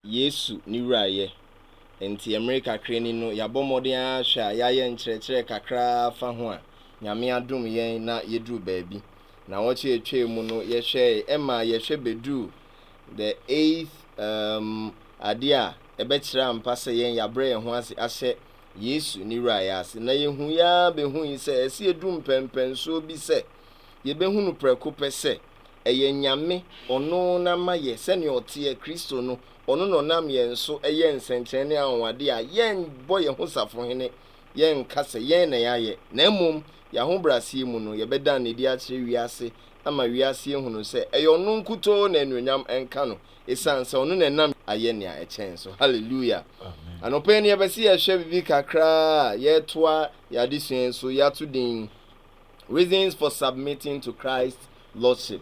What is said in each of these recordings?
Yesu ne Wura yɛ. Nti mmere kakra ni no yɛabɔ mmɔden ara hwɛ a yɛayɛ nkyerɛkyerɛ kakra ara fa ho a Nyame adom yɛn na yɛduru baabi. Naawɔtwe a ɛtwae mu no yɛhwɛe ɛmaa yɛhwɛ bɛduru the eighth um adeɛ a ɛbɛkyerɛ ampa sɛ yɛn yɛabrɛ yɛn ho ase ahyɛ Yesu ne Wura yɛ ase. Na yɛhuiɛ ara bɛhui sɛ ɛsɛ yɛduru mpɛnpɛnsoɔ bi sɛ Yɛbɛhunu prɛko pɛ sɛ, ɛyɛ Nyame, Ɔno na ma yɛ, sɛdeɛ Ɔteɛ, Kristo no, Ɔno na Ɔnam yɛn so yɛ nsɛnkyerɛnne ne anwanwadeɛ a yɛnbɔ yɛn ho safohene, yɛnka sɛ yɛn na yɛayɛ, na mmom yɛahobrɛaseɛ mu no, yɛbɛdan no adi akyerɛ wiase ama wiase ahunu sɛ ɛyɛ Ɔno nkutoo na anuonyam nka No, ɛsiane sɛ Ɔno na ɛnam ayɛ nea ɛkyɛn so. Hallelujah! Anɔpa yi no yɛpɛ sɛ yɛhwɛ biribi kakra a yɛretoa yɛn adesua yi so, yɛato din. Reasons for Submitting to Christ's Lordship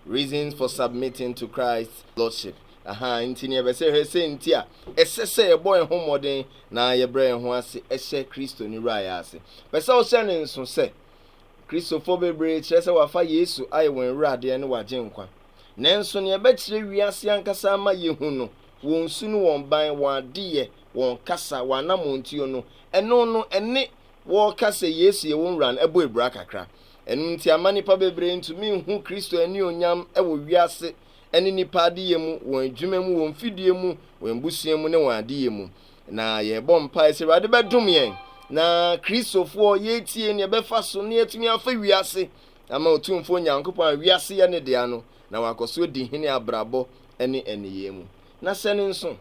Reasons for Submitting to Christ's Lordship aha nti ne yɛbɛsɛ hwɛ sɛ nti a ɛsɛ sɛ yɛbɔ yɛn ho mmɔden na yɛbrɛ yɛn ho ase ɛhyɛ Kristo ne wura yɛ ase pɛ sɛ ɔhyɛ ne nso sɛ Kristofo bebree kyerɛ sɛ wafa Yesu ayɛ wɔn awuradeɛ ne wagye nkwa nanso ne ɛbɛkyerɛ wiase ankasa ama yɛhu no wɔn su no wɔn ban wɔn adeyɛ wɔn kasa wɔn anammɔntuo no ɛno no ɛne wɔka sɛ Yesu yɛ wɔn Wura no bɔ abira kakra. Ɛno nti amma nnipa bebree ntumi nhu Kristo anuonyam wɔ wiase ne nnipa adeyɛ mu, wɔn adwuma mu, wɔn mfidie mu, wɔn abusua mu, ne wɔn adeyɛ mu. Na yɛrebɔ mpae sɛ Awurade bɛdom yɛn na Kristofoɔ yɛretie nea ɛbɛfa so na yɛatumi afa wiase ama Otumfoɔ Nyankopɔn a wiase yɛ ne dea no na wakɔ so adi hene abrabɔ ne nneyɛɛ mu. Na sɛ no nso,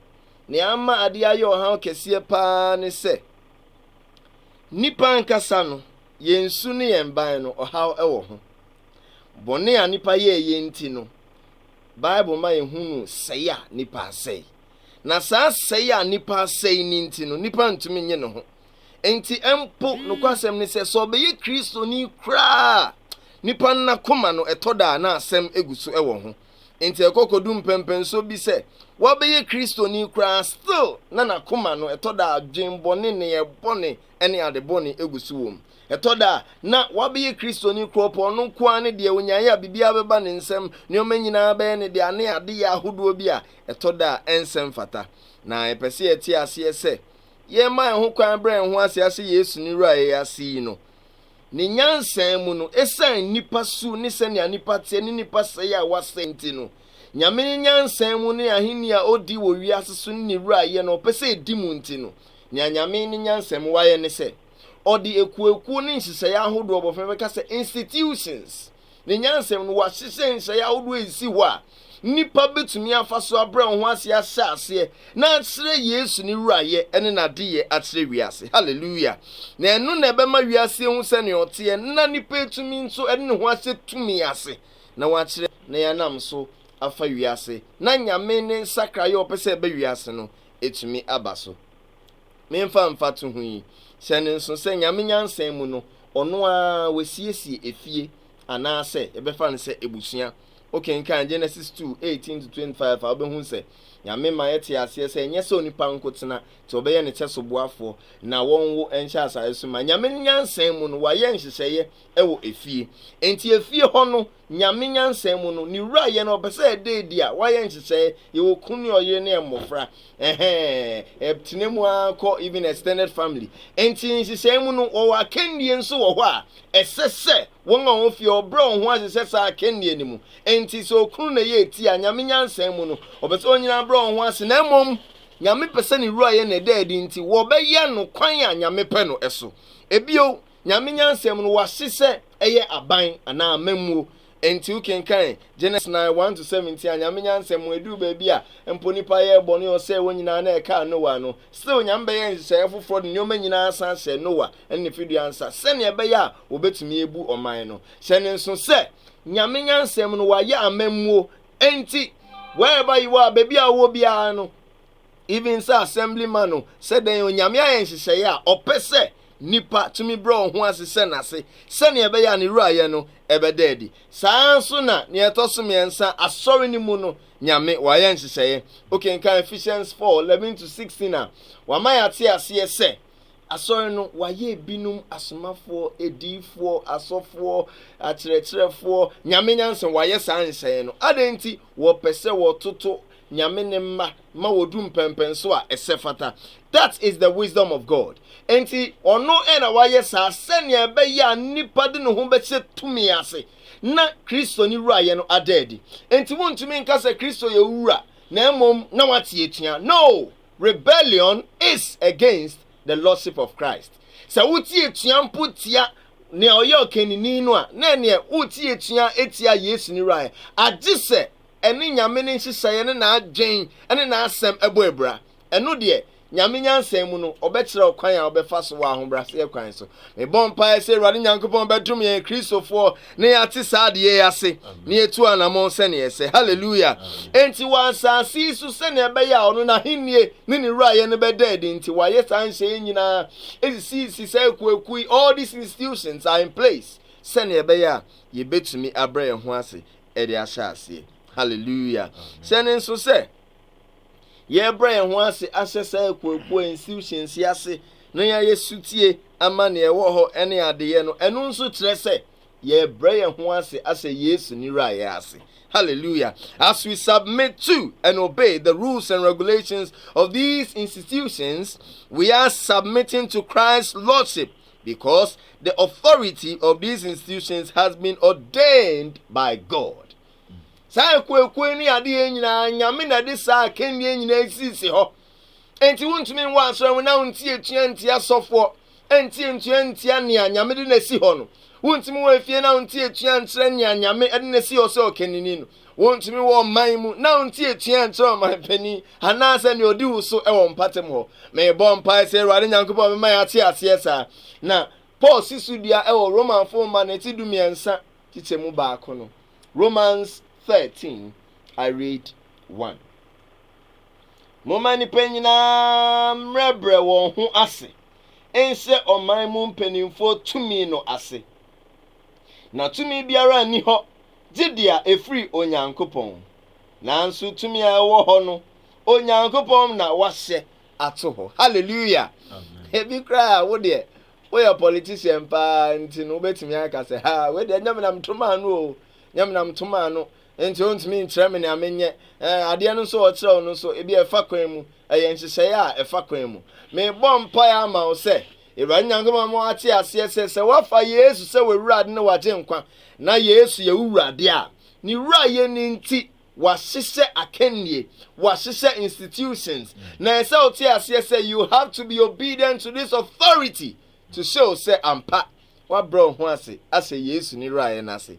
nea ama adeɛ ayɛ ɔhaw kɛseɛ paa ne sɛ, Nnipa ankasa no, yɛn su ne yɛn ban no, ɔhaw wɔ ho. Bɔne a nnipa yɛɛ yɛn nti no, Bible ma yɛhunu sɛe a nnipa asɛe. Na saa sɛe a nnipa asɛe no nti no, nnipa ntumi nye ne ho. Enti mpo, nokwasɛm ne sɛ, sɛ ɔbɛyɛ Kristoni koraa a, nnipa no n'akoma no, ɛtɔ da a na asɛm gu so wɔ ho. Enti ɛkɔ kodu mpɛnpɛnso bi sɛ wabɛyɛ Kristoni koraa still na n'akoma no ɛtɔ da a adwen bɔne, nneyɛɛ bɔne ne ade bɔne gu so wɔ mu. Ɛtɔ da a na wabɛyɛ Kristoni koraa ɔpɛ ɔno nko ara ne deɛ onyaeɛ a biribiara bɛba ne nsam, nneɛma nyinaa bɛyɛ ne dea ne adeyɛ ahodoɔ bi a ɛtɔ da a ɛnsɛ mfata. Na yɛpɛ sɛ yɛte aseɛ sɛ yɛma yɛn ho kwan brɛ yɛn ho ase asɛ Yesu ne Wura a ɛyɛ ase yi no. Ne nyansa mu no, esiane nnipa su ne sɛnea nnipa teɛ ne nnipa sɛe a wɔasɛe nti no, Nyame ne nyansa mu ne ahenni a odi wɔ wiase so ne ne wurayɛ no a ɔpɛ sɛ edi mu nti no, nea Nyame ne nyansa mu wayɛ ne sɛ, Ɔde akuoakuo ne nhyehyɛeɛ ahodoɔ bɔ fam, ɛbɛka sɛ, institutions, ne nyansam no, wɔahyehyɛ nhyehyɛe ahodoɔ a ɛsi hɔ a nnipa bɛtumi afa so abrɛ wɔn ho ase ahyɛ aseɛ na akyerɛ Yesu ne wurayɛ ne n'adeyɛ akyerɛ wiase. Hallelujah! Na ɛno na ɛbɛma wiase ahu sɛnea ɔteɛ na nnipa atumi nso ɛde ne ho ahyɛ tumi ase na wɔakyerɛ na yɛanam so afa wiase na Nyame ne nsakraeɛ a ɔpɛ sɛ ɛba wiase no ɛtumi aba so. Memfa mfatoho yi, hyɛ no nso sɛ Nyame nyansa mu no, ɔno ara wasiesie efie, anaasɛ yɛbɛfa no sɛ abusua. Wokenkan Genesis two, eighteen to twenty five a, wobɛhu sɛ Nyame ma yɛte aseɛ sɛ ɛnyɛ sɛ onipa nko tena, nti ɔbɛyɛ ne kyɛsoboafoɔ, na wɔnwo nhyɛ asaase so ma. Nyame nyansa mu no, wayɛ nhyehyɛeɛ wɔ efie. Enti efie hɔ no, Nyame nyansa mu no, ne wura yɛ no, ɔpɛ sɛ ɛda adi a, wayɛ nhyehyɛe, yɛwɔ kunu ne ɔyere ne mmofra, ɛhɛɛ, ɛtena mu ara kɔ even extended family. Enti nhyehyɛe mu no, wɔwɔ akannie nso wɔ hɔ a, ɛsɛ sɛ wɔn a wɔn fie ɔbrɛ wɔn ho ase hyɛ saa akannie no mu. Enti sɛ okunu na ɛyɛ eti a, Nyame nyansa mu no, ɔpɛ sɛ wɔn nyinaa brɛ wɔn ho ase, na mmom, Nyame pɛ sɛ ne wura yɛ no ɛda adi nti, wɔbɛyɛ no kwan a Nyame pɛ no so. Bio, Nyame nyansam no, wɔase sɛ ɛyɛ aban anaa amammuo. Enti wokenkan Genes 9, 1 to 17 a, Nyame nyansam mu, ɛduru baabi a mpo nnipa yɛɛ bɔne, ɔsɛee wɔn nyinaa na ɛkaa Noa no, still Nyame bɛyɛɛ nhyehyɛeɛ foforɔ de nneɛma nyinaa san hyɛɛ Noa ne ne fidua nsa, sɛnea ɛbɛyɛ a wɔbɛtumi abu ɔman no. Hyɛ no nso sɛ, Nyame nyansam no, wɔayɛ amammuo, enti, wherever you are, baabi a wowɔ biara no, Even sɛ assembly man o, sɛ dɛn o, Nyame ayɛ nhyehyɛeɛ a Ɔpɛ sɛ nipa tumi brɛ wɔn ho ase hyɛ N'ase sɛnea ɛbɛyɛ a Ne Wurayɛ no bɛda adi. Saa ara nso na nea ɛtɔ so mmiɛnsa, Asɔre no mu no, Nyame Wayɛ nhyehyɛeɛ. Wokenkan Ephesians four, eleven to sixteen a, Wama yɛate aseɛ sɛ, Asɔre no, Wayɛ ebinom asomafoɔ, adiyifoɔ, asɔfoɔ, akyerɛkyerɛfoɔ, Nyame nyansa, Wayɛ saa nhyehyɛeɛ no. Adɛn nti? Wɔpɛ sɛ wɔtoto Nyame Ne mma ma wɔdu mpɛnpɛnso a ɛsɛ fata. That is the wisdom of God. Enti ɔno na wayɛ saa sɛnea ɛbɛyɛ a nipa de ne ho bɛhyɛ tumi ase na Kristo ne wurayɛ no ada adi. Enti wontumi nka sɛ Kristo yɛ wo wura na mmom na wate atua. No! Rebellion is against the lordship of Christ. Sɛ wote atua mpo tia nea ɔyɛ ɔkanini no a, na ɛneɛ wote atua atia Yesu ne wurayɛ. Agye sɛ ɛne Nyame ne nhyehyɛeɛ ne n'adwen ne n'asɛm bɔ abira. Ɛno deɛ, Nyame nyansa mu no, ɔbɛkyerɛ wo kwan a wobɛfa so wɔ ahobraseɛ kwan so. Mebɔ mpaeɛ sɛ Awurade Nyankopɔn bɛdom yɛn Kristofoɔ na yɛate saa adeɛ yi ase na yɛtu anamɔn sɛnea ɛsɛ. Hallelujah! Enti wɔ asase yi so sɛnea ɛbɛyɛ a ɔno n'ahennie ne ne wurayɛ no bɛda adi nti, wayɛ saa nhyehyɛeɛ nyinaa, esisisii saa akuakuo yi, all these institutions are in place, sɛnea ɛbɛyɛ a yɛbɛtumi abrɛ yɛn ho ase de ahyɛ aseɛ. Hallelujah. Sɛ ne nso sɛ yɛbrɛ yɛn ho ase ahyɛ saa akuakua institutions yi ase na yɛayɛ sutie ama nea ɛwɔ hɔ ne adeyɛ no, ɛno nso kyerɛ sɛ yɛbrɛ yɛn ho ase ahyɛ Yesu ne wurayɛ ase. Hallelujah. As we submit to and obey the rules and regulations of these institutions, we are submitting to Christ's lordship Because the authority of these institutions has been ordained by God. Saa akuakuo ne adeɛ nyinaa nyame na de saa akannie nyinaa sisi hɔ. Enti wontumi nwɔ asɔre ho na wontie tua ntia sɔfoɔ ntie ntua ntia nea nyame de na si hɔ no. Wontumi wɔ efie na wontie tua nkyerɛ nea nyame de na si hɔ sɛ ɔkanini no. Wontumi wɔ ɔman mu na wonti atua nkyerɛ ɔman panyin anaasɛ nea odi wo so wɔ mpɔtam hɔ. Mebɔ mpae sɛ Awurade Nyankopɔn bɛma yɛate aseɛ saa. Na Paul si so dua wɔ Romafo nwoma no ti dumiɛnsa kyekyɛ mu baako no. Romans thirteen, I read one. Momma nnipa nyinaa mmerɛbrɛ wɔn ho ase nhyɛ ɔman mu mpanimfoɔ tumi no ase. Na tumi biara nni hɔ gye deɛ ɛfiri Onyankopɔn. Nanso tumi a ɛwɔ hɔ no, Onyankopɔn na wahyɛ ato hɔ. Hallelujah! Ebi koraa a wo deɛ woyɛ politician paa nti no wobɛtumi aka sɛ ha wei deɛ nyɛ menam toma ano o, nyɛ menam toma ano nti wontumi nkyerɛ me nea menyɛ. Eh, adeɛ no nso ɔkyerɛ wo no nso ebi ɛfa kwan mu, ɛyɛ nhyehyɛeɛ a ɛfa kwan mu. Mebɔ mpaeɛ ama wo sɛ Awurade Nyankopɔn ama woate aseɛ sɛ, sɛ woafa Yesu sɛ w'Awurade ne w'Agyenkwa, na Yesu yɛ wo Wura deɛ a, Ne Wurayɛ no nti, wɔahyehyɛ akannie, wɔahyehyɛ institutions, na ɛsɛ sɛ wote aseɛ sɛ you have to be obedient to this authority to show sɛ ampa Woabrɛ wo ho ase ahyɛ Yesu ne Wurayɛ no ase?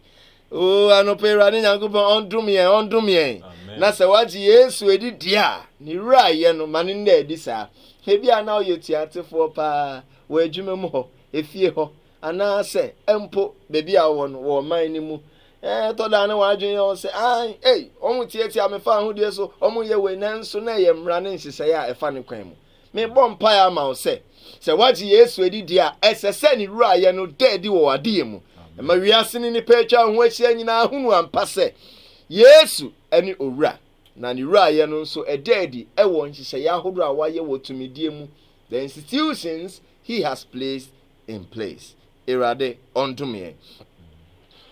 Oo, anɔpa yi Awurade Nyankopɔn ɔndom yɛn, ɔndom yɛn. Na sɛ woagye Yesu adi deɛ a, ne Wurayɛ no, ma no nna adi saa. Ebia na woyɛ otuatefoɔ paa wɔ adwuma mu hɔ, efie hɔ, anaasɛ mpo baabi a wowɔ no, wɔ ɔman no mu. Ɛtɔ da a na w'adwene yɛ wo sɛ, Ae, ei, wɔtiatia me fa ahodie so, wɔyɛ wei, nanso na ɛyɛ mmara ne nhyehyɛeɛ a ɛfa ne kwan mu. Mebɔ mpae ama wo sɛ, sɛ woagye Yesu adi deɛ a, ɛsɛ sɛ ne Wurayɛ no da adi wɔ w'adeyɛ mu. Ɛma wiase ne nnipa a atwa wo ho ahyia nyinaa hunu ampa sɛ Yesu ne Owura, na ne Wurayɛ no nso ɛda adi wɔ nhyehyɛeɛ ahodoɔ a wayɛ wɔ tumidie mu, the institutions He has placed in place. Awurade ɔndome yɛn.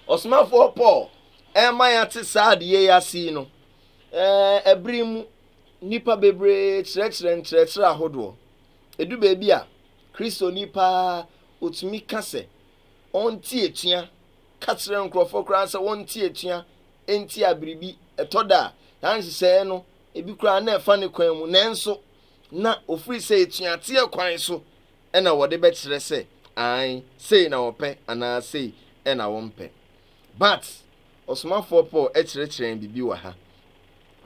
Ɔsomafoɔ Paul ɛma yɛate saa adeyɛ yi ase yi no, ɛɛ, ɛbere mu Nnipa bebree kyerɛkyerɛ nkyerɛkyerɛ ahodoɔ. Ɛdu baabi a, Kristoni pa ara ɔtumi ka sɛ ɔnte atua, ka kyerɛ nkorɔfoɔ koraa sɛ wɔnte atua ntia biribi. Ɛtɔ da a, saa nhyehyɛeɛ no, ebi koraa na ɛfa ne kwan mu, nanso na ɔfiri sɛ atuateɛ kwan so na wɔde bɛkyerɛ sɛ aane, sei na wɔpɛ anaa sei na wɔmpɛ. But, Ɔsomafoɔ Paul kyerɛkyerɛɛ biribi wɔ ha.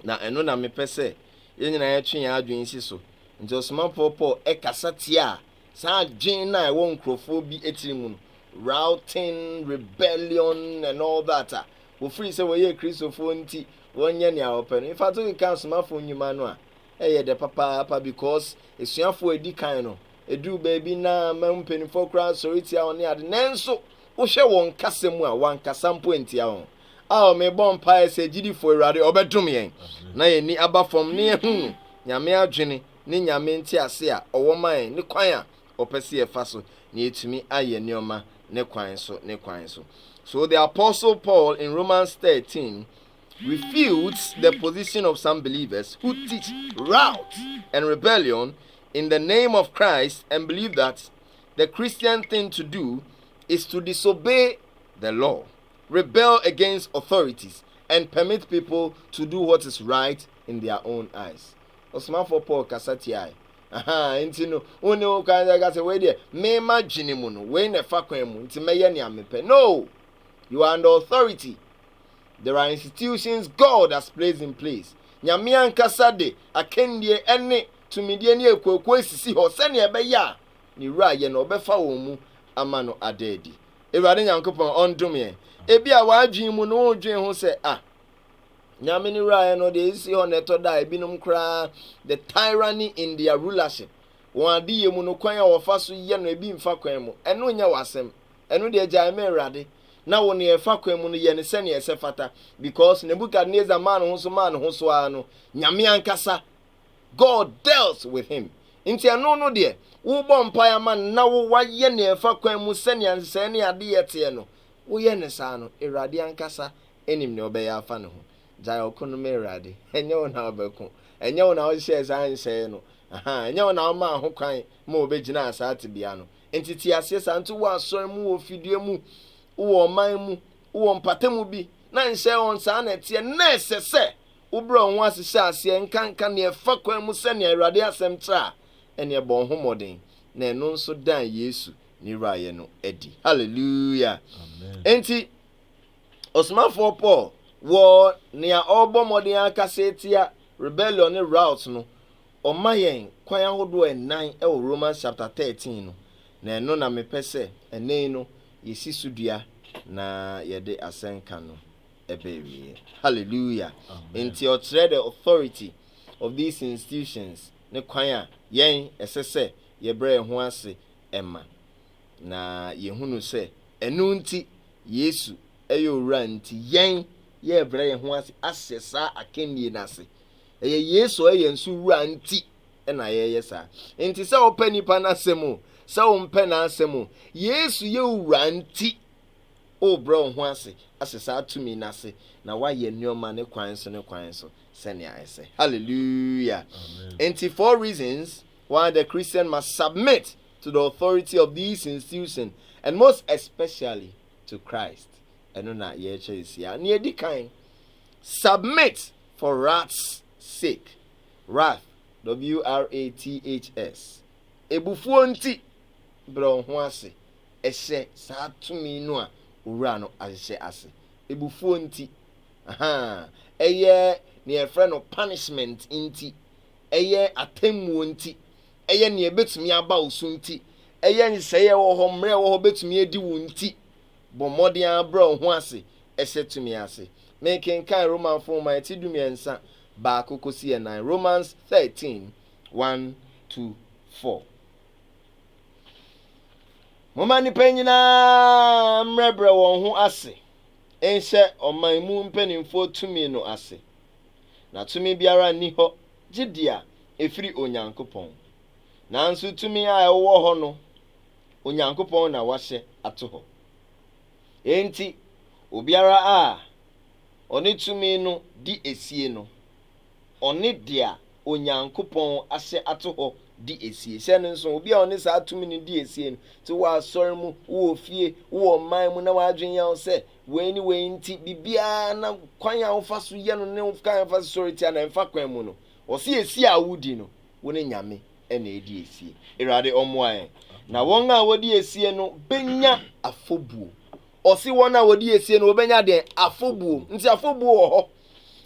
Na ɛno na mepɛ sɛ yɛn nyinaa yɛtwe yɛn adwene si so. Enti ɔsomafoɔ Paul kasa tiaa saa adwene no a ɛwɔ nkurɔfoɔ bi tiri mu no, rioting, rebellion and all that a wɔfiri sɛ wɔyɛ Kristofoɔ nti wɔnyɛ nea wɔpɛ no. In fact, wokeka asomafo nnwuma no a, ɛyɛ dɛ papaapa because asuafoɔ a ɛdi kan no, ɛduru baabi na ma mpanimfoɔ koraa sɔre tia wɔn ne ade. Nanso, wohwɛ wɔn kasa mu a, wɔankasa mpo antia wɔn. Ao, mebɔ mpaeɛ sɛ agyidifoɔ, Awurade, ɔbɛdom yɛn, na yɛn ani aba fam na yɛahunu Nyame adwene ne Nyame ntease a ɔwɔ ma yɛn ne kwan a ɔpɛ sɛ yɛfa so na yɛatumi ayɛ nneɛma ne kwan so, ne kwan so. So the Apostle Paul in Romans 13 refutes the position of some believers who teach rout and rebellion in the name of Christ and believe that the Christian thing to do is to disobey the law. rebel against authorities and permit people to do what is right in their own eyes. Ɔsomafoɔ Paul kasa tiae. Aha, nti no, wonni ho kwan sɛ ka sɛ, wei deɛ, me m'adwene mu no, wei na ɛfa kwan mu, nti mɛyɛ nea mepɛ. No! You are under authority. There are institutions God has placed in place. Nyame ankasa de akandie ɛne tumidie ne akuakuo asisi hɔ sɛnea ɛbɛyɛ a ne wura yɛ no ɔbɛfa wɔn mu ama no ada adi. Awurade Nyankopɔn ɔndom yɛn. Ebia w'adwene mu no wodwen ho sɛ, Ah, Nyame no wuraeɛ no, deɛ ɛsisi hɔ no ɛtɔ da a, ebinom koraa, the tyranny in their rulership, wɔn adeyɛ mu no, kwan a wɔfa so yɛ no, ebi mfa kwan mu. Ɛno nyɛ w'asɛm. Ɛno deɛ gyae ma Awurade, na wo nea ɛfa kwan mu no, yɛ no sɛnea ɛsɛ fata. Because Nebuchadnezzar maa ne ho so maa ne ho so ara no, Nyame ankasa God dealt with him. Nti ɛno no deɛ, wobɔ mpaeɛ ama no na wo wayɛ nea ɛfa kwan mu sɛnea nhyehyɛeɛ ne adeyɛ teɛ no, woyɛ no saa no, Awurade ankasa nim nea ɔbɛyɛ afa ne ho. Gyae ɔko no ma Awurade. Ɛnyɛ wo na wobɛko. Ɛnyɛ wo na wohyehyɛɛ saa nhyɛeɛ no. Aha, ɛnyɛ wo na womaa ho kwan ma wɔbɛgyinaa saa tebea no. Nti te aseɛ saa. Nti wowɔ asɔre mu, wowɔ fidua mu, wowɔ ɔman mu, wowɔ mpatamu bi, na nhyɛeɛ wɔn saa na ɛteɛ, na ɛsɛ sɛ wobrɛ wɔn ho ase hyɛ aseɛ nkanka nea ɛfa kwan mu sɛnea Awurade Asɛm kyerɛ a, ɛnneɛ ɛbɔɔ ho mmɔden, na ɛno nso dan Yesu ne wuraeɛ no adi. Hallelujah! Amen. Enti, ɔsomafoɔ Paul wɔ nea ɔrebɔ mmɔden akasa atia rebellion ne rout no, ɔma yɛn kwan ahodoɔ ɛnan wɔ Romans chapter 13 no, na ɛno na mepɛ sɛ ɛnɛ yi no yɛsi so dua na yɛde asɛnka no. ɛbɛ awieɛ. Hallelujah. Amen. Nti ɔkyerɛ the authority of these institutions ne kwan a yɛn ɛsɛ sɛ yɛbrɛ yɛn ho ase ɛma. Na yɛhunu sɛ ɛno nti Yesu ɛyɛ owura nti yɛn yɛbrɛ yɛn ho ase ahyɛ saa akannie no ase. Ɛyɛ Yesu ɔyɛ yɛn so wura nti ɛna yɛyɛ saa. Nti sɛ wopɛ nipa n'asɛm o, sɛ wompɛ n'asɛm o, Yesu yɛ owura nti Worebrɛ wo ho ase ahyɛ saa tumi no ase na woayɛ nneɛma ne kwan so ne kwan so sɛnea ɛsɛ. Hallelujah! Enti, four reasons why the Christian must submit to the authority of these institutions and most especially to Christ. Ɛno na yɛrekyɛ nsia. Nea edi kan, submit for wrath's sake. Wrath, W-R-A-T-H-S. Ebufuo nti, brɛ wo ho ase ɛhyɛ saa tumi no a owura no ahyehyɛ ase. Abufuo nti, ahaa, ɛyɛ nea yɛfrɛ no punishment nti, ɛyɛ atemmuo nti, ɛyɛ nea ɛbɛtumi aba wo so nti, ɛyɛ nhyehyɛeɛ a ɛwɔ hɔ, mmara a ɛwɔ hɔ bɛtumi adi wo nti, bɔ mmɔden ara brɛ wo ho ase hyɛ tumi ase. Mekenkan Romanfoɔ Nwoma ɛti dumiɛnsa, baako kɔsi ɛnan, Romans thirteen, one to four. Momma nnipa nyinaa mmrɛbrɛ wɔn ho ase nhyɛ ɔman mu mpanimfoɔ tumi no ase, na tumi biara nni hɔ gye deɛ ɛfiri Onyankopɔn. Nanso tumi a ɛwɔ hɔ no, Onyankopɔn na wahyɛ ato hɔ. Enti obiara a ɔne tumi no di asie no, ɔne dea Onyankopɔn ahyɛ ato hɔ di asie. Hyɛ no nso, obi a ɔne saa tumi no di asie no te wɔ asɔre mu, wowɔ fie, wowɔ ɔman mu na w'adwene ya wo sɛ wei ne wei nti biribiara na kwan a wofa so yɛ no ne wo kwan a wofa so sɔre tia no ɛmfa kwan mu no, ɔse asie a wodi no, wo ne Nyame na ɛredi asie. Awurade ɔmmoa yɛn na wɔn a wɔdi asie no bɛnya afɔbuo. Ɔse wɔn a wɔdi asie no wɔbɛnya deɛn? Afɔbuo. Nti afɔbuo wɔ hɔ.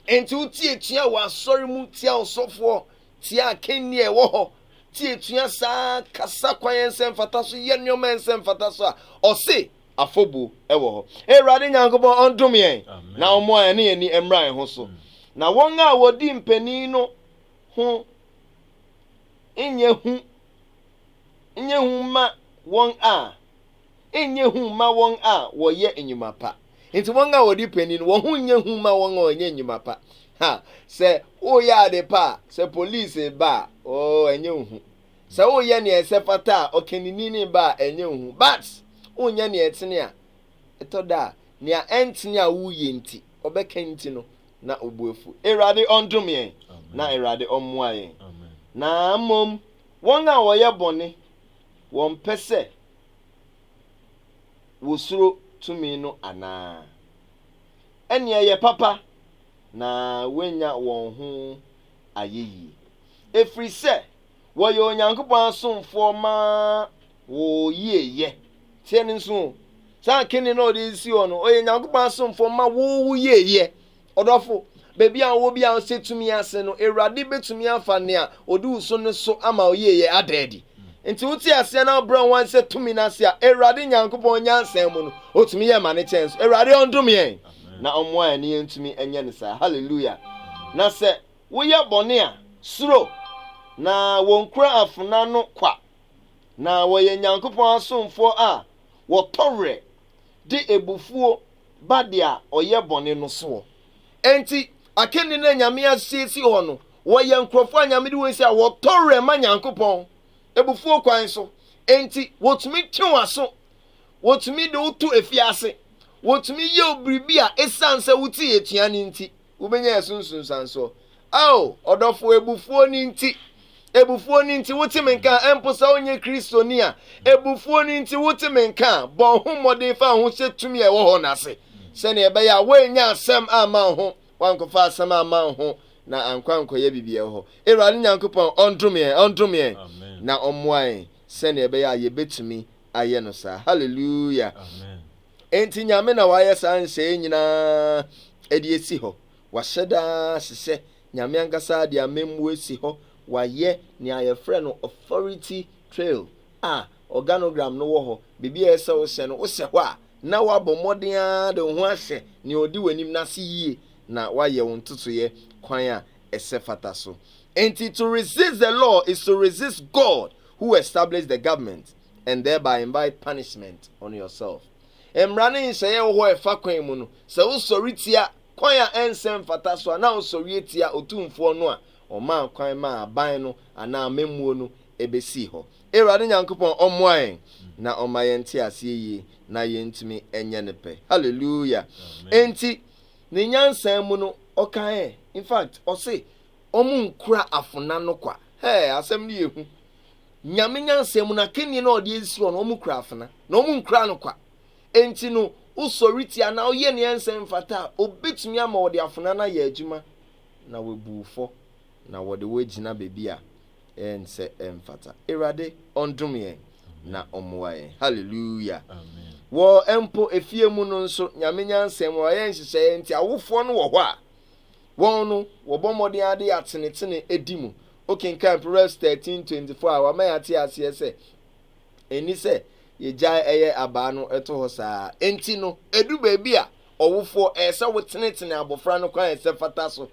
Nti wo ti atua wɔ asɔre mu tia ɔsɔfoɔ, tia akannie a ɛwɔ hɔ, ti atua saa, kasa kwan a ɛnsɛ mfata so, yɛ nneɛma a ɛnsɛ mfata so a, ɔse afɔbuo wɔ hɔ. Awurade Nyankopɔn ɔndome yɛn na ɔmmoa yɛn ne yɛn ani mmra yɛn ho so. Na wɔn a wɔdi mpanin no ho nyɛ hu nyɛ hu mma wɔn a. nyɛ hu mma wɔn a wɔyɛ nnwuma pa. Enti wɔn a wɔdi panyin no, wɔn ho nyɛ hu mma wɔn a wɔnyɛ nnwuma pa. Ha, sɛ woyɛ ade pa a, sɛ polisi ba a, oo, ɛnyɛ wo hu. Sɛ woyɛ nea ɛsɛ fata a, ɔkanini ba a, ɛnyɛ wo hu. But, wonyɛ nea ɛtene a, ɛtɔ da a, nea ɛntene a woyɛ nti, ɔbɛka nti no, na wo bo afuw. Awurade ɔndom yɛn, na Awurade ɔmmoa yɛn. Na mmom, wɔn a wɔyɛ bɔne Wɔmpɛ sɛ wosuro tumi no anaa? Ɛnneɛ ɛyɛ papa na wɔanya wɔn ho ayeyie, ɛfiri sɛ wɔyɛ Onyankopɔn asomfoɔ ma wɔyieyɛ. Tie no nso o, saa kene no a ɔde resi hɔ no, wɔyɛ Onyankopɔn asomfoɔ ma wɔyieyɛ. Ɔdɔfo, baabi a wowɔ biara sɛ tumi ase no, Awurade betumi afa nea odi wo so no so ama wo yieyɛ ada adi. Enti wote aseɛ na wobrɛ wo ho ase sɛ tumi no ase a, Awurade Nyankopɔn nyansa mu no, otumi yɛ ma no kyɛn so. Awurade ɔndome yɛn na ɔmmoa yɛn na yɛntumi nyɛ no saa. Hallelujah! Na sɛ woyɛ bɔne a, suro, na wɔnkura afena no kwa, na wɔyɛ Nyankopɔn asomfoɔ a wɔtɔ werɛ, de abufuo ba dea ɔyɛ bɔne no soɔ. Enti akanni no a Nyame asiesie hɔ no, wɔyɛ nkurɔfoɔ a Nyame de wɔn si a wɔtɔ werɛ ma Nyankopɔn, abufuo kwan so. Enti wɔtumi twe w'aso, wɔtumi de wo to afiase, wɔtumi yɛ wo biribi a esiane sɛ wotee atua no nti, wobɛnya yɛ so nsunsuansoɔ. Ao, ɔdɔfoɔ, abufuo no nti, abufuo no nti wote me nka a, ɛmpo sɛ wonyɛ Kristoni a, abufuo no nti wote me nka a, bɔ ho mmɔden fa ho hyɛ tumi a ɛwɔ hɔ no ase, sɛnea ɛbɛyɛ a woannya asɛm amma wo ho, woankɔfa asɛm amma wo ho, na ankɔ ankɔyɛ biribi ɛwɔ hɔ. Awurade Nyankopɔn ɔndome yɛn, ɔndome yɛn, na ɔmmoa yɛn sɛnea ɛbɛyɛ a yɛbɛtumi ayɛ no saa hallelujah enti nyame na wayɛ saa nsɛe nyinaa ɛde esi hɔ wahyɛ daa sesɛ nyame ankasa de amemmuo esi hɔ wayɛ nea yɛfrɛ no authority trail a organogram no wɔ hɔ biribi a ɛsɛ wosɛ no wosɛ hɔ a na wabɔ mmɔden ara de wo ho ahyɛ nea ɔdi w'anim no ase yie na wayɛ wo ntotoyɛ kwan a ɛsɛ fata so enti to resist the law is to resist God who establish the government and thereby invite punishment on yourself. Mmara ne nhyɛeɛ wɔ hɔ a ɛfa kwan mu no, sɛ wosɔre tia kwan a ɛnsɛ mfata so a, na wosɔre atia Otumfoɔ no a ɔmaa kwan maa aban no anaa amammuo no ɛbɛsii hɔ. Awurade Nyankopɔn ɔmmoa yɛn na ɔmma yɛn nte aseɛ yie na yɛntumi nyɛ ne pɛ. Hallelujah. Enti ne nyansa mu no, ɔkaeɛ, in fact, ɔse, Wɔn nkura afona no kwa. Hɛɛ, asɛm no yɛ hu. Nyame nyansa mu no, akannie no a ɔde asi hɔ no, wɔn kura afona, na wɔn nkura no kwa. Enti no, wosɔre tia anaa woyɛ nea ɛnsɛ mfata a, obetumi ama wɔde afona no ayɛ adwuma, na wɔabu wo fɔ, na wɔde wo agyina baabi a ɛnsɛ mfata. Awurade ɔndom yɛn, na ɔmmoa yɛn. Hallelujah! Wɔ mpo efie mu no nso, Nyame nyansa mu a ɔyɛ nhyehyɛeɛ nti, awofoɔ no wɔ hɔ a, Wɔn no, wɔbɔ mmɔden ara de atenetene adi mu. Wokenkan Proverbs thirteen twenty four a, wama yɛate aseɛ sɛ, Enni sɛ yegyae yɛ abaa no to hɔ saa ara. Enti no, edu baabi a, ɔwofoɔ, ɛyɛ sɛ wotenetene abɔfra no kwan a ɛsɛ fata so.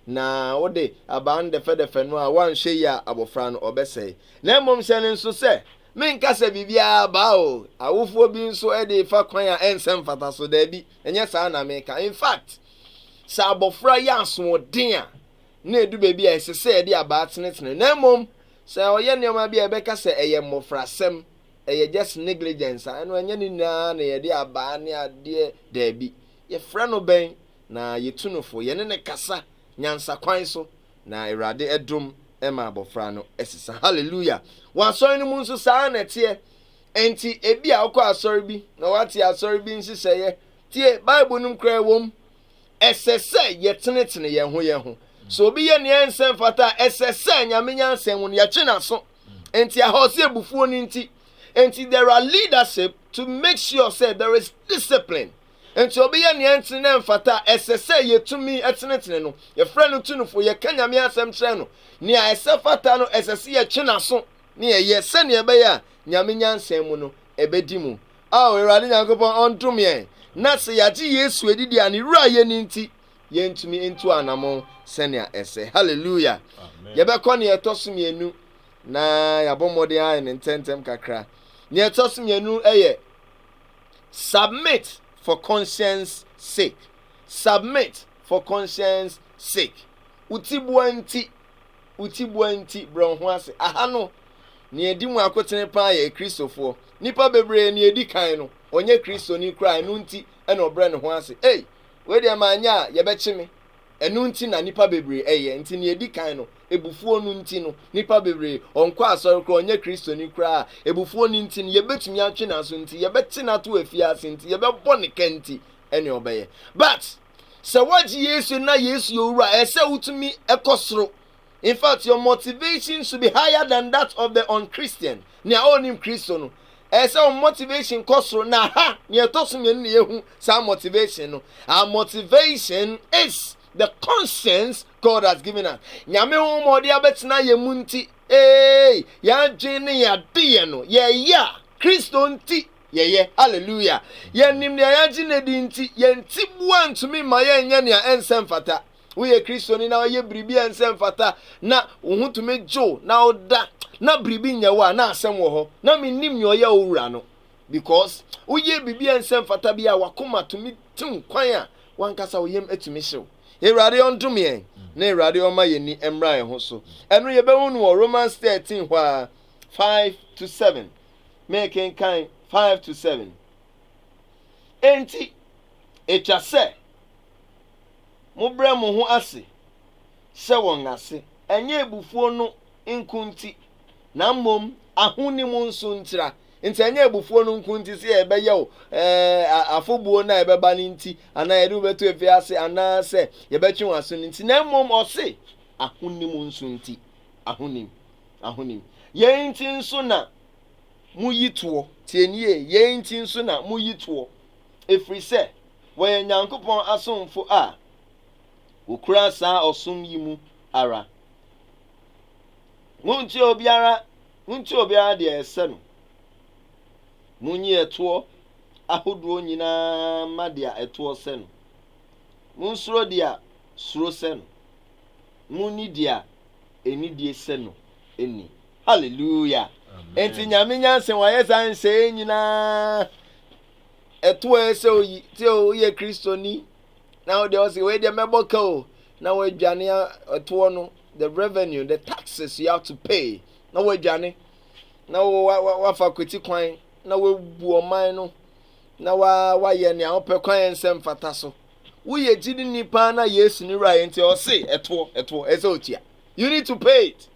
Na wode abaa no dɛfɛdɛfɛ no a, woanhwɛ yie a, abɔfra no, ɔbɛsɛe. Na mmom hyɛ no nsosyɛ, Menka sɛ biribiara abaa o, awofoɔ bi nso de fa kwan a ɛnsɛ mfata so. Dabi, ɛnyɛ saa na mereka. In fact, Sɛ abɔfra yɛ asoɔden a, na edu baabi a ɛsɛ sɛ yɛde abaa tenetene. Na mmom, sɛ ɔyɛ nneɛma bi a yɛbɛka sɛ ɛyɛ mmofrasɛm, ɛyɛ just negligence a, ɛno ɛnyɛ ne nyinaa na yɛde abaa ne adeɛ, daabi. Yɛfrɛ no bɛn, na yɛtu no fo. Yɛne no kasa nyansa kwan so, na Awurade dom ma abɔfra no sesa. Hallelujah! Wɔ asɔre no mu nso, saa ara na ɛteɛ. Enti, ebia wokɔ asɔre bi, na woate asɔre bi nhyehyɛeɛ Tie, Bible no mu koraa ɛwom. Ɛsɛ sɛ yɛtenetene yɛn ho yɛn ho. Sɛ obi yɛ nea ɛnsɛ mfata a, ɛsɛ sɛ Nyame nyansa mu no yɛtwe n'aso. Enti aha ɔsɛ abufuo no nti. Enti there are leadership to make sure sɛ there is discipline. Enti obi yɛ nea ɛntene na ɛmfata a, ɛsɛ sɛ yɛtumi tenetene no. Yɛfrɛ no tunufo, yɛka Nyame asɛm kyerɛ no. Nea ɛsɛ fata no, ɛsɛ sɛ yɛtwe n'aso na yɛyɛ sɛnea ɛbɛyɛ a Nyame nyansa mu no ɛbɛdi mu. Ao Awurade Nyankopɔn ɔntom yɛn, na sɛ yɛagye Yesu adi deɛ a, ne Wura yɛ no nti, yɛntumi ntu anamon sɛnea ɛsɛ. Haleluya! Yɛbɛkɔ nea ɛtɔ so mmienu, na yɛabɔ mmɔden ayɛ no ntɛmntɛm kakra. Nea ɛtɔ so mmienu yɛ submit for conscience sake. Submit for conscience sake. Wo tiboa nti, wo tiboa nti, brɛ wo ho ase. Aha no, nea edi mu akoten paa yɛ Kristofo. Nnipa bebree, nea edi kan no, ɔnyɛ Kristoni koraa, ɛno nti na ɔbrɛ ne ho ase. Ei, wei deɛ manyɛ a, yɛbɛkye me. Ɛno nti na nnipa bebree yɛ. Enti nea edi kan no, abufuo no nti no, nnipa bebree, ɔnkɔ asɔre koraa, ɔnyɛ Kristoni koraa. Abufuo no nti no, yɛbɛtumi atwe n'aso nti, yɛbɛte no ato afiase nti, yɛbɛbɔ no ka nti, ɛnneɛ ɔbɛyɛ. But, Sɛ woagye Yesu na Yesu yɛ owura a, ɛsɛ wotumi kɔ soro. In fact, your motivation should be higher than that of the unchristian, nea ɔnnim Kristo no. Ɛsɛ sɛ wɔn motivation kɔ soro, na ha, nea ɛtɔ so mmienu na yɛhu saa motivation no. Our motivation is the conscience God has given us. Nyame honhom a ɔde abɛtena yɛn mu nti, ee, yɛn adwene ne yɛn adeyɛ no, yɛyɛ a, Kristo nti. yɛyɛ. Hallelujah! Yɛnim nea yɛagye no adi nti, yɛn tiboa ntumi mma yɛnyɛ nea ɛnsɛ mfata. Woyɛ Kristoni na woyɛ biribi a ɛnsɛ mfata, na wo ho tumi dwo na woda, na biribi nyɛ wo a, na asɛm wɔ hɔ. Na minnim nea ɔyɛ wo wura no, because woyɛɛ biribi a ɛnsɛ mfata bi a w'akoma tumi tew kwan a w'ankasa wo yam atumi hyew. Awurade ɔndome yɛn, na Awurade ɔmma yɛn ani mmra yɛn ho so. Ɛno yɛbɛhu no wɔ Romans thirteen hɔ ara, five to seven. mekenkan five to seven. Enti, etwa sɛ mobrɛ mo ho ase hyɛ wɔn ase, ɛnyɛ abufuo no nko nti, na mmom ahonim nso ntira. Nti ɛnyɛ abufuo no nko nti sɛ yɛbɛyɛ o, ɛɛ afobuo no a yɛbɛba no nti, anaa yɛde wobɛto efi ase, anaa sɛ yɛbɛtwe wɔn aso no nti, na mmom ɔse ahonim nso nti, ahonim. ahonim. Yei nti nso na moyi toɔ, tie no yie, yei nti nso na moyi toɔ, ɛfiri sɛ wɔyɛ Nyankopɔn asomfo a wɔkura saa ɔsom yi mu ara. Montie obiara, montie obiara deɛ ɛsɛ no, monyi ɛtoɔ ahodoɔ nyina ara mma deɛ ɛtoɔ sɛ no, monsuro deɛ suro sɛ no, monni deɛ Anidie sɛ no nni. Hallelujah! Enti Nyame nyansa wayɛ saa nsɛɛ nyinaa. Ɛto ɛ sɛ oyi, sɛ oyɛ Kristoni, na ɔde ɔsɛ, wei deɛ mɛbɔ ka o, na wadwane ɛtoɔ no, the revenue, the taxes you have to pay, na wadwane, na wafa kwati kwan, na wabu ɔman no, na wayɛ nea ɔpɛ kwan nsɛm fata so. Woyɛ gyidini paa na Yesu ne wura yɛ nti ɔse ɛtoɔ ɛtoɔ ɛsɛ otua you need to pay it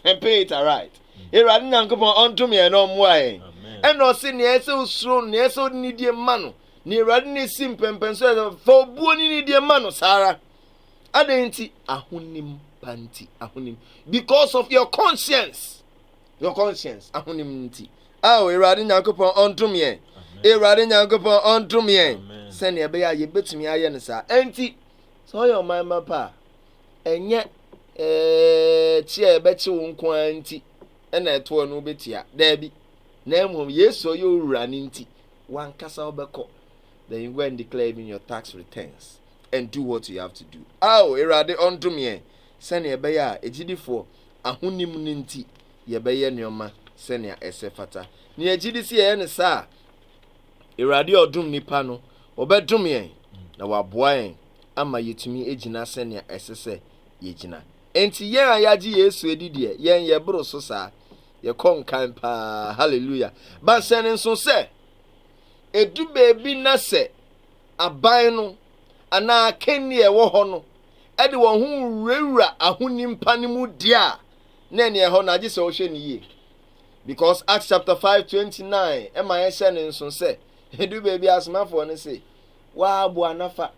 and pay it aright. Awurade Nyankopɔn ɔndom yɛn na ɔmmoa yɛn. Ɛna ɔse nea ɛsɛ osuro no nea ɛsɛ ɔde ne die ma no nea Awurade ne si mpɛmpɛn so ɛsɛ fa obuo ne ne die ma no saa ara. Adɛn nti? Ahonim pa nti ahonim because of your conscience Your conscience, ahonim no nti. Ao, Awurade Nyankopɔn ɔntom yɛn. Awurade Nyankopɔn ɔntom yɛn. Sɛnea ɛbɛyɛ a yɛbɛtumi ayɛ no saa. Ɛnti, sɛ ɔyɛ ɔman ma pa a, ɛnyɛ ɛɛ kye a ɛbɛkye wo nko ara nti ɛna ɛtoɔ no wobɛtua. Daabi. Na mmom, Yesu ɔyɛ owura no nti, wankasa wobɛkɔ. Then you go and declare even your tax returns and do what you have to do. Ao, Awurade ɔntom yɛn. Sɛnea ɛbɛyɛ a agyidifoɔ ahonim no nti, yɛbɛyɛ nneɛma sɛnea ɛsɛ fata. Na yɛgye di sɛ yɛyɛ no saa a, Awurade a ɔdom nnipa no, ɔbɛdom yɛn na waboa yɛn ama yɛatumi agyina sɛnea ɛsɛ sɛ yɛgyina. Enti yɛn a yɛagye Yesu adi deɛ, yɛn yɛboro so saa. Yɛkɔ nkan paa. Hallelujah. Ba sɛ ne nso sɛ, ɛdu baabi na sɛ aban no anaa akanni a ɛwɔ hɔ no de wɔn ho wurawura ahonim pa no mu deɛ a, na ɛneɛ ɛhɔ no agye sɛ wohwɛ no yie. Because Acts chapter 5 29 ɛma yɛhyɛ no nso sɛ, ɛdu baabi asomafoɔ no se, wɔaboa nafa.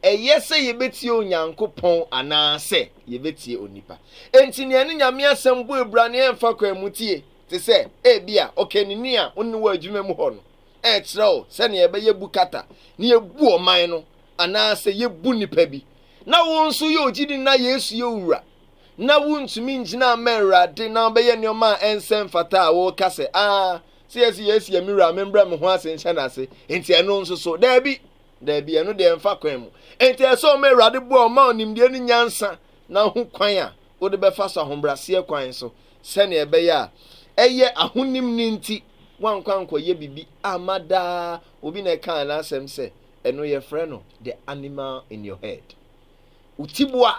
Ɛyɛ sɛ yɛbɛtie Onyankopɔn anaasɛ yɛbɛtie onipa. Enti nea ne Nyame asɛm bɔ abira ne ɛmfa kwan mu tie, te sɛ ebia ɔkanini a wo ne wɔ adwuma mu hɔ no, ɛkyerɛ wo sɛnea ɛbɛyɛ bu kata na yɛbu ɔman no anaasɛ yebu nnipa bi. Na wo nso woyɛ ogyidini na Yesu yɛ wo wura, na wuntumi ngyina mma Awurade na ɔbɛyɛ nneɛma a ɛnsɛ mfata a, woka sɛ, Aa, sɛ yɛse Yesu yɛ me wura a, membrɛ me ho ase nhyɛ n'ase, enti ɛno nso so? Dabi! Dabi, ɛno deɛ ɛmfa kwan mu. Enti ɛsɛ sɛ ɔma Awurade boa ɔma wo nimdeɛ ne nyansa na hu kwan a wode bɛfa so ahobraseɛ kwan so sɛnea ɛbɛyɛ a ɛyɛ ahonim no nti woankɔ ankɔyɛ biribi amma daa. Obi na ɛkaa n'asɛm sɛ, Ɛno yɛfrɛ no the animal in your head. Wo tiboa,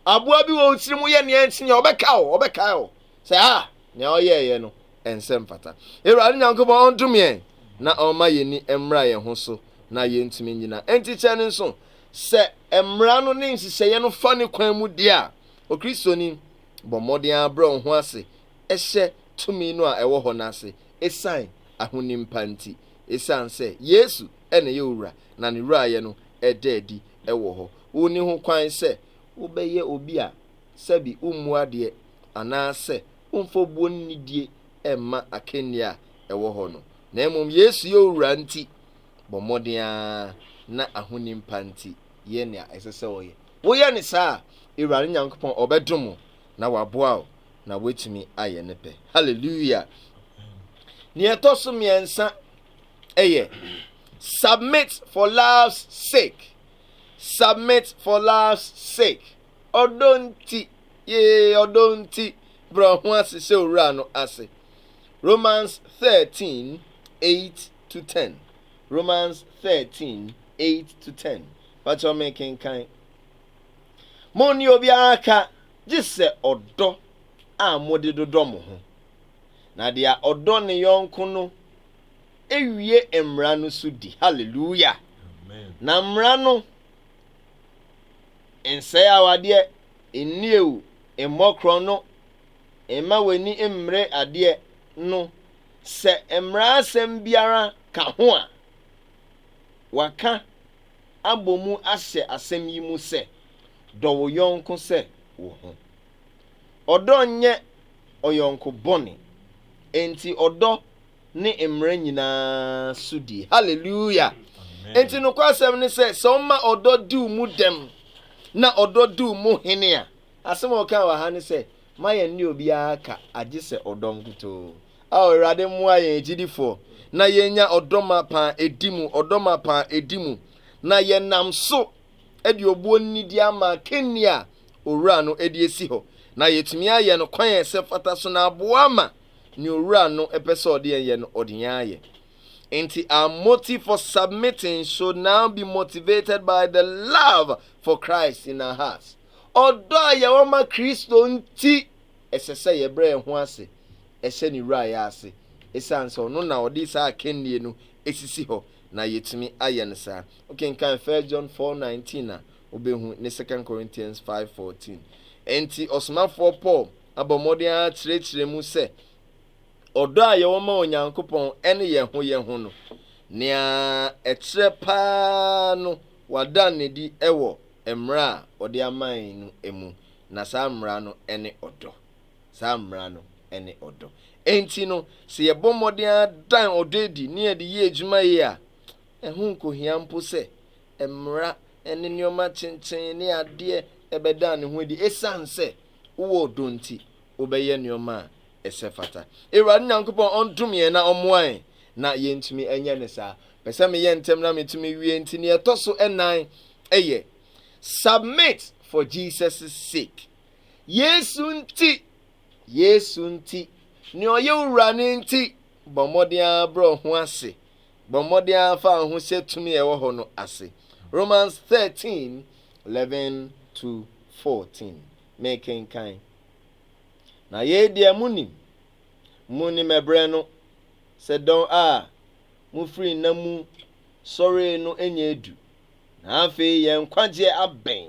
aboa bi wɔ wo tirim yɛ nea ɛnsi nea ɔbɛka o, ɔbɛkae o. Sɛ a, ah, nea ɔyɛɛyɛ no ɛnsɛ mfata. Awurade Nyankopɔn ɔndome yɛn na ɔmma yɛn ni mmra yɛn ho so na yɛntumi nyina. Enti kyɛ no nso, sɛ mmara no ne nhyehyɛeɛ no fa ne kwan mu deɛ a, Okristoni bɔ mmɔden abrɛ wo ho ase ɛhyɛ tumi no a ɛwɔ hɔ no ase ɛsiane ahonim pa nti. Ɛsiane sɛ Yesu na ɛyɛ owura, na ne wurayɛ no da adi wɔ hɔ. Wunni ho kwan sɛ wobɛyɛ obi a sɛbi wummu adeɛ anaasɛ womfa buo ne nidie mma akannie a ɛwɔ hɔ no, na mmom Yesu yɛ owura nti, bɔ mmɔden ara na ahonim pa nti yɛ nea ɛsɛ sɛ woyɛ. Woyɛ no saa a, Awurade Nyankopɔn ɔbɛdom wo na waboa wo na woatumi ayɛ ne pɛ. Hallelujah! Nea ɛtɔ so mmiɛnsa ɛyɛ submit for love's sake submit for love's sake ɔdɔ nti yee ɔdɔ nti brɛ ho ase sɛ owura no ase romans thirteen eight to ten romans thirteen eight to ten pakyɛ ɔmo kenkan mo ne obiara ka gye sɛ ɔdɔ a mode dodɔ mo ho na deɛ ɔdɔ ne yɔnko no awie mmara no so di. Hallelujah! Na mmara no nsɛe awadeɛ, nnie o, mmɔ korɔn no, mma w'ani mmere adeɛ no, sɛ mmara asɛm biara ka ho a, wɔaka abɔ mu ahyɛ asɛm yi mu sɛ, Dɔ wo yɔnko sɛ wo ho. Ɔdɔ nyɛ ɔyɔnko bɔne, enti ɔdɔ ne mmara nyinaa so die. Hallelujah! Enti nokwasɛm ne sɛ, sɛ ɔma ɔdɔ diw mu dɛm na ɔdɔ diw mu hene a, asɛm a ɔkaa wɔ ha ne sɛ, ma yɛn ne obiara ka agye sɛ ɔdɔ nkutoo. Ao Awurade mmoa yɛn agyidifoɔ na yɛnya ɔdɔ mapa a ɛdi mu, ɔdɔ mapa a ɛdi mu, na yɛnam so de obuo ne nidi ama akanni a Owura no de asi hɔ, na yɛtumi ayɛ no kwan a ɛsɛ fata so na aboa ma nea Owura no pɛ sɛ ɔde yɛn yɛ no, ɔde yɛn ayɛ. Enti our motive for submitting should now be motivated by the love for Christ in our hearts. Ɔdɔ a yɛwɔ ma Kristo nti, ɛsɛ sɛ yɛbrɛ yɛn ho ase ɛhyɛ ne wura yɛ ase, esiane sɛ ɔno na ɔde saa akannie no esisi hɔ na yɛtumi ayɛ no saa. Wokenkan 1 John 4:19 a, wobɛhu ne 2 Corinthians 5:14. Enti ɔsomafoɔ Paul abɔ mmɔden ara kyerɛkyerɛ mu sɛ ɔdɔ a yɛwɔ ma Onyankopɔn ne yɛn ho yɛn ho no, nea ɛkyerɛ paa no, wɔada no adi wɔ mmara a ɔde amae no mu, na saa mmara no ne ɔdɔ. Saa mmara no ne ɔdɔ. Enti no, sɛ yɛbɔ mmɔden ara dan ɔdɔ adi na yɛde yɛ adwuma yie a, ɛho nkohia mpo sɛ mmara ne nneɛma kyenkyen ne adeɛ bɛda ne ho adi, esiane sɛ wowɔ ɔdɔ nti wobɛyɛ nnoɔma a ɛsɛ fata. Awurade Nyankopɔn ɔndom yɛn na ɔmmoa yɛn na yɛntumi nyɛ no saa. Pɛ sɛ meyɛ ntɛm na metumi wie nti nea ɛtɔ so ɛnan yɛ submit for Jesus' sake. Yesu nti, Yesu nti, nea ɔyɛ wura no nti, bɔ mmɔden ara brɛ ho ase. Bɔ mmɔden ara fa wo ho hyɛ tumi a ɛwɔ hɔ no ase. Romans thirteen, eleven to fourteen, Mekenkan. Na yei deɛ monim, monim ɛberɛ no, sɛ dɔn a mofiri nna mu sɔree no nyɛ adu, na afei yɛn nkwagyeɛ abɛn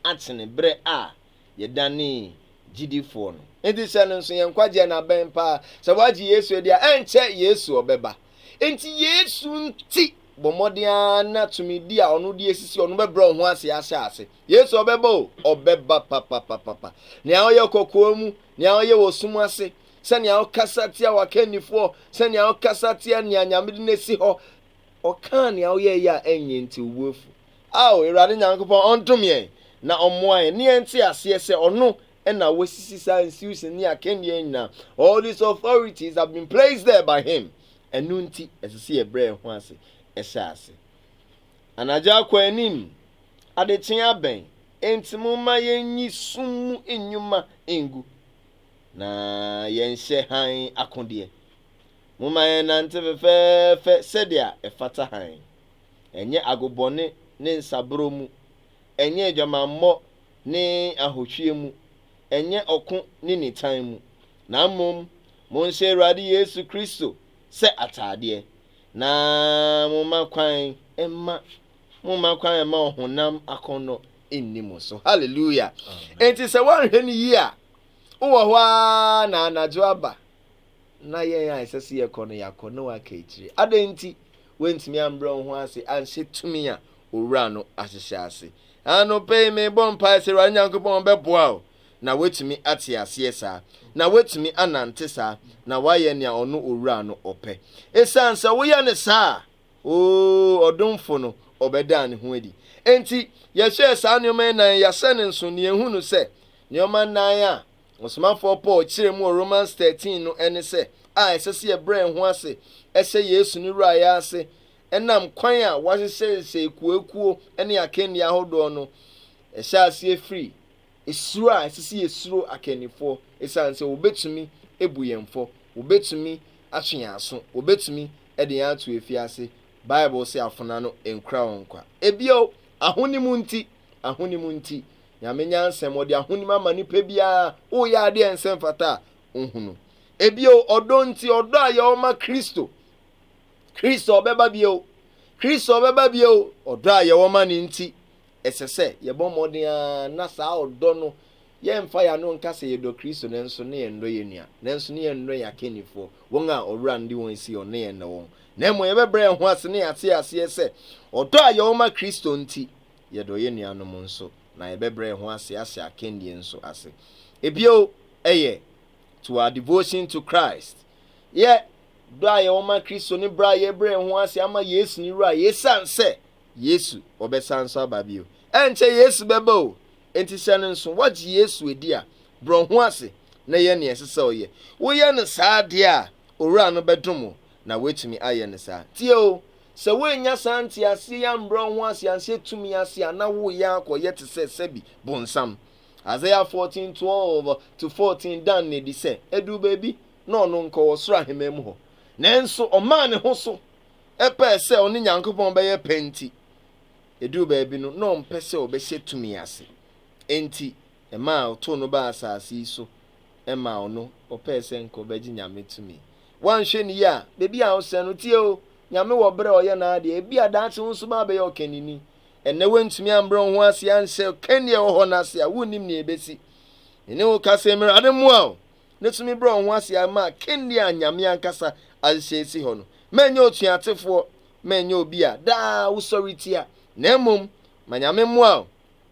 akyene berɛ a yɛdanee gyidifoɔ no. Enti hyɛ no nso, yɛn nkwagyeɛ no abɛn paa. Sɛ woagye Yesu adi a, ɛnkyɛ Yesu ɔbɛba. Enti Yesu nti, bɔ mmɔden ara na tumidi a ɔno de asisi ɔno bɛbrɛ wo ho ase ahyɛ ase. Yesu ɔbɛba o, ɔbɛba papapapapa. Nea ɔyɛ kɔkoa mu, nea ɔyɛ wɔ sum ase, sɛnea ɔkasa tia w'akannifoɔ, sɛnea ɔkasa tia nea Nyame de no asi hɔ, ɔkaa nea woyɛeɛ a ɛnyɛ nti wo bo afu. Ao Awurade Nyankopɔn, ɔndom yɛn, na ɔmmoa yɛn, na yɛnte aseɛ sɛ Ɔno na wasisi saa nsiusin ne akanniɛ nyinaa, all these authorities have been placed there by Him. Ɛno nti, ɛsɛ sɛ yɛbrɛ yɛn ho ase hyɛ ase. Anadwo akɔ anim, adekyee abɛn, enti momma yɛnyi sum mu nnwuma ngu, na yɛnhyɛ hann akodeɛ. Momma yɛnnante fefɛɛfɛ sɛdeɛ ɛfata hann. ɛnyɛ agobɔne ne nsaborɔ mu, ɛnyɛ adwamammɔ ne ahohwieɛ mu, ɛnyɛ ɔko ne nitan mu, na mmom monhyɛ Awurade Yesu Kristo sɛ ataadeɛ, na momma kwan mma momma kwan mma ɔhonam akɔnnɔ nni mo so. Hallelujah! Enti sɛ woanhwɛ no yie a, wowɔ hɔ ara na anadwo aba. na yɛn a ɛsɛ sɛ yɛkɔ no, yɛakɔ na waka akyire. Adɛn nti? Woantumi ambrɛ wo ho ase anhyɛ tumi a Owura no ahyehyɛ ase. Anɔpa yi, merebɔ mpae sɛ Awurade Nyankopɔn ɔbɛboa wo na woatumi ate aseɛ saa, na woatumi anante saa, na woayɛ nea Ɔno Owura no ɔpɛ. Esiane sɛ woyɛ no saa a, oo, ɔdomfo no, ɔbɛdaa ne ho adi. Enti, yɛhwɛɛ saa nneɛma nnan yi, yɛahyɛ no nso, na yɛhunu sɛ nneɛma nnan a Ɔsomafɔɔ Paul kyerɛɛ mu wɔ Romans thirteen no ɛne sɛ a ɛsɛ sɛ yɛbrɛ yɛn ho ase hyɛ Yesu ne Wuraeɛ ase ɛnam kwan a wɔahyehyɛhyehyɛ akuoakuo ne akannie ahodoɔ no. Ɛhyɛ aseɛ firi suro a ɛsɛ sɛ yɛsuro akannifoɔ ɛsiane sɛ wɔbɛtumi abu yɛn fɔ, wɔbɛtumi atwe yɛn aso, wɔbɛtumi de yɛn ato afiase. Bible se afona no nkura wɔn kwa. Ebio, ahonim nti, ahonim nti. Nyame nyansam, ɔde ahonim ama nipa biara, woyɛ ade a ɛnsɛ mfata a, ohu no. Ebio, ɔdɔ nti, ɔdɔ a yɛwɔ ma Kristo. Kristo ɔbɛba bio. Kristo ɔbɛba bio. Ɔdɔ a yɛwɔ ma ne nti, ɛsɛ sɛ yɛbɔ mmɔden ara na saa ɔdɔ no yɛmfa yɛn ano nka sɛ yɛdɔ Kristo nanso ne yɛn dɔ yɛn nua, nanso ne yɛn dɔ yɛn akannifoɔ, wɔn a ɔwura no de wɔn asi hɔ, ne yɛn dɔ wɔn. Na mmom yɛbɛbrɛ yɛn ho ase ne yɛate aseɛ sɛ ɔdɔ a yɛwɔ ma Kristo nti, yɛdɔ yɛn nuanom nso, na yɛbɛbrɛ yɛn ho ase ahyɛ akannie nso ase. Ebio yɛ To Our Devotion to Christ, Yɛ dɔ a yɛwɔ ma Kristo ne brɛ a yɛbrɛ yɛn ho ase ama Yesu ne Wura yɛsiane sɛ Yesu ɔbɛsan nso aba bio. Ɛnkyɛ Yesu bɛba o, enti hyɛ no nso. Woagye Yesu adi a, brɛ wo ho ase na yɛ nea ɛsɛ sɛ ɔyɛ. Woyɛ no saa deɛ a, Owura no bɛdom wo na woatumi ayɛ no saa. Tie o, sɛ woannya saa nteaseɛ yi ambrɛ wo ho ase anhyɛ tumi ase a, na woreyɛ akɔyɛ te sɛ sɛbi bonsam. Isaiah 14, 12-14 da no adi sɛ, ɛduu baabi na ɔno nkɔ ɔsoro aheman mu hɔ. Nanso ɔmaa ne ho so pɛɛ sɛ ɔne Nyankopɔn bɛyɛ pɛ nti, ɛduu baabi no na ɔmpɛ sɛ ɔbɛhyɛ tumi ase. Enti. Ɛmaa wɔtoo no baa asase yi so maa ɔno ɔpɛɛ sɛ nka ɔbɛgye Nyame tumi. Woanhwɛ no yie a, baabi a wosɛn no, tie o, Nyame wɔ berɛ a ɔyɛ n'adeɛ. Ebia daakye wo nso mabɛyɛ ɔkannini. Ɛnnɛ woantumi ambrɛ wo ho ase anhyɛ ɔkanni a ɛwɔ hɔ no ase a, wonnim nea ɛbɛsi. Me ne wo ka sɛ Mmrade mmoa wo na tumi brɛ wo ho ase ara ma akanni a Nyame ankasa ahyehyɛ asi hɔ no. Ma ɛnyɛ otuatefoɔ, ma ɛnyɛ obi a daa wosɔretia, na mmom ma Nyame mmoa wo.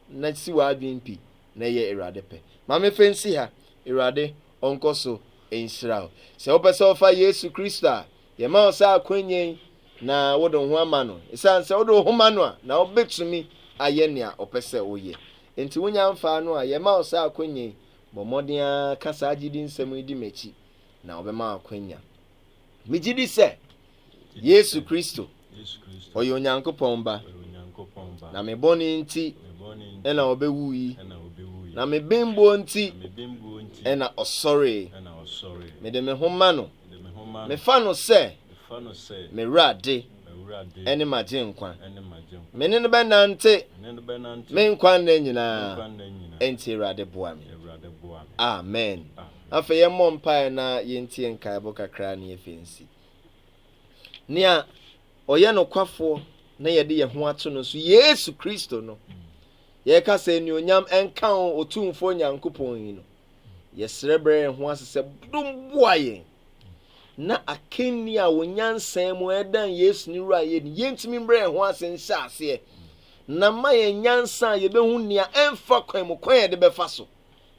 na si w'adwen pi na ɛyɛ Awurade pɛ. Ma me fɛ nsi ha. Awurade ɔnkɔ so nhyira wo. Sɛ wopɛ sɛ wofa Yesu Kristo a, yɛma wo saa akwanya yi na wode wo ho ama no. Ɛsiane sɛ wode wo ho ma no a, na wobɛtumi ayɛ nea ɔpɛ sɛ woyɛ. Enti wonya mfaa no a, yɛma wo saa akwanya yi. Bɔ mmɔden ara ka saa gyedi nsɛm yi di m'akyi na ɔbɛma wo akwanya. Megye di sɛ Yesu Kristo, ɔyɛ Onyankopɔn Ba, na me bɔne nti na ɔbɛwuui, na me bembuo nti na ɔsɔree. Mede me ho ma no. Mefa no sɛ m'Awurade ne m'Agyenkwa. Me ne no bɛnante me nkwa nna nyinaa. Enti Awurade boa me. Amen. Afei yɛmmɔ mpaeɛ na yɛntie nkaebɔ kakra na afei nsi. Nea ɔyɛ nokwafoɔ na yɛde yɛn ho ato no so, Yesu Kristo no. Yɛka sɛ anuonyam nka wo Otumfoɔ Nyankopɔn yi no. Yɛsrɛ brɛ yɛn ho ase sɛ dom boa yɛn na akanni a wɔn nyansa mu ɛdan Yesu ne wura yɛ ni yɛntumi mbrɛ yɛn ho ase nhyɛ aseɛ na ma yɛn nyansa a yɛbɛhu nea ɛmfa kwan mu kwan yɛde bɛfa so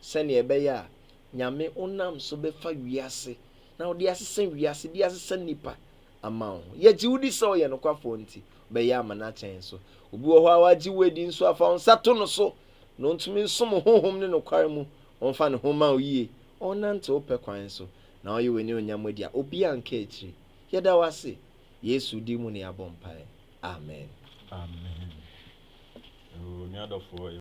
sɛnea ɛbɛyɛ a Nyame honam so bɛfa wiase na ɔde asesa wiase de asesa nnipa ama wo ho. Yɛgye wo di sɛ ɔyɛ nokwafoɔ nti, bɛyɛ ama no akyɛn so. Obi wɔ hɔ a wagye wo adi nso afa wo nsa to no so na ɔntumi nsom honhom ne nokware mu, ɔmfa ne ho ma wo yie, ɔnnante wo pɛ kwan so, na ɔyɛ w'ani onyam adi a obi anka akyiri. Yɛda wo ase. Yesu din mu na yɛabɔ mpae. Amen. Amen. Oh, me adɔfoɔ.